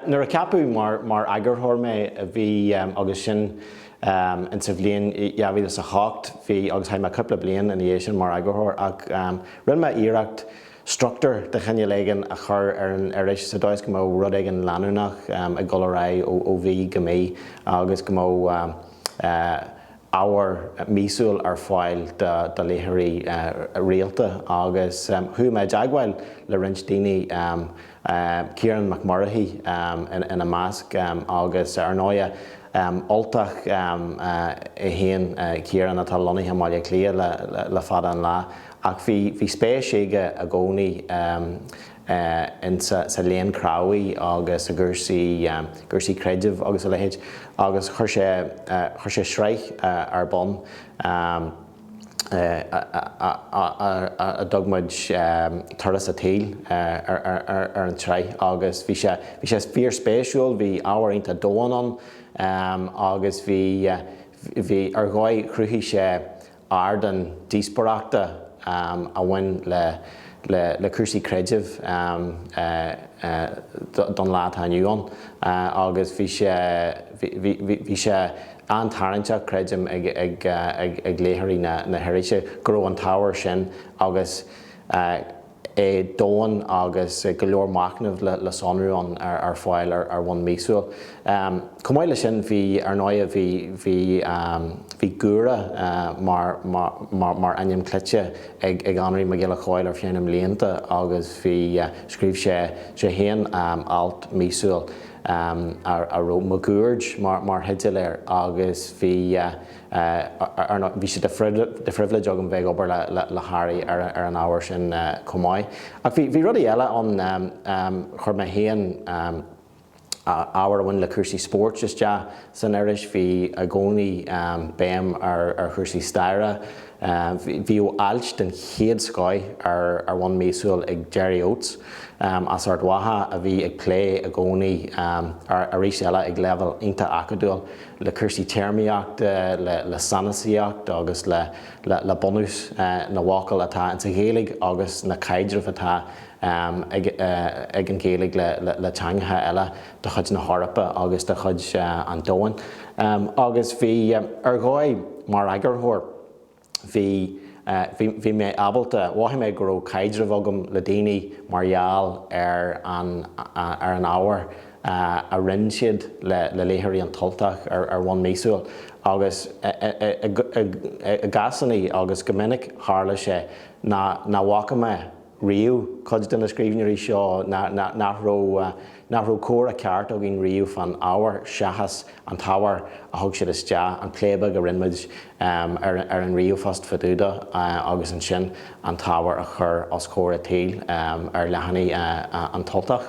Nuair a ceapadh mar eagarthóir mé, bhí, agus sin ins an bhliain 2008, bhí, agus chaith mé cúpla bliain ina dhiaidh sin mar eagarthóir, ach rinne mé iarracht struchtúr de chineál éigin a chur ar an iris sa dóigh is go mbeadh rud éigin leanúnach ag dul ar aghaidh ó mhí go mí agus go mbeadh ábhar míosúil ar fáil do léitheoirí rialta agus chuaigh mé i dteagmháil le roinnt daoine, Ciarán Mac Murchaidh ina measc, agus ar ndóigh, Ultach é féin, Ciarán, atá lonnaithe i mBaile Átha Cliath le fada an lá, ach bhí spéis aige i gcónaí, sa léann crábhaidh agus i gcúrsaí creidimh agus a leithéid agus chuir sé chuir sé sraith ar bun a dtug muid Turas a' tSaoil ar an tsraith agus bhí sé bhí sé fíor spéisiúil bhí ábhar iontach domhain ann agus bhí bhí ar dhóigh chruthaigh sé ardán díospóireachta a bhain le cúrsaí creidimh don lá atá inniu ann agus bhí sé an-tarraingteach, creidim, ag léitheoirí na hirise go raibh an t-ábhar sin agus é domhain agus go leor machnaimh le sonrú ann ar fáil ar bhonn míosúil. Chomh maith leis sin, bhí, ar ndóighe, bhí, bhí, bhí Guaire mar, mar, mar ainm cleite ag, ag Anraí Mac Giolla Chomhaill ar feadh na mblianta agus bhí, scríobh sé, sé féin alt míosúil a raibh Máguaird mar, mar theideal air agus bhí, Ar ndóigh, bhí sé de phribhléid agam bheith ag obair le Harry ar an ábhar sin chomh maith. Ach bhí rudaí eile ann. Chuir mé féin ábhar a bhain le cúrsaí spóirt isteach san iris. Bhí i gcónaí béim ar chúrsaí staire. Bhíodh ailt den chéad scoith ar bhonn míosúil ag Gerry Oates as Ard Mhacha a bhí ag plé i gcónaí, arís eile ag leibhéal iontach acadúil, le cúrsaí téarmaíochta, le sanasaíocht agus le bunús na bhfocal atá insa Ghaeilge agus na caidrimh atá ag an Ghaeilge le teangacha eile de chuid na hEorpa agus de chuid an domhain. Agus bhí ar dhóigh, mar eagarthóir, bhí, bhí, bhí mé ábalta, mhothaigh mé go raibh caidreamh agam le daoine mar gheall ar an, ar an ábhar a roinn siad le, le léitheoirí An tUltach ar, ar bhonn míosúil agus i, i, i, i gcásannaí agus go minic tharla sé nach, nach bhfaca mé. riamh, cuid de na scríbhneoirí seo nach raibh comhrá ceart againn riamh fán ábhar seachas an t-ábhar a thug siad isteach, an plé beag a rinne muid ar an ríomhphost fadúda agus ansin an t-ábhar a chur os comhair an tsaoil ar leathanaigh An tUltach.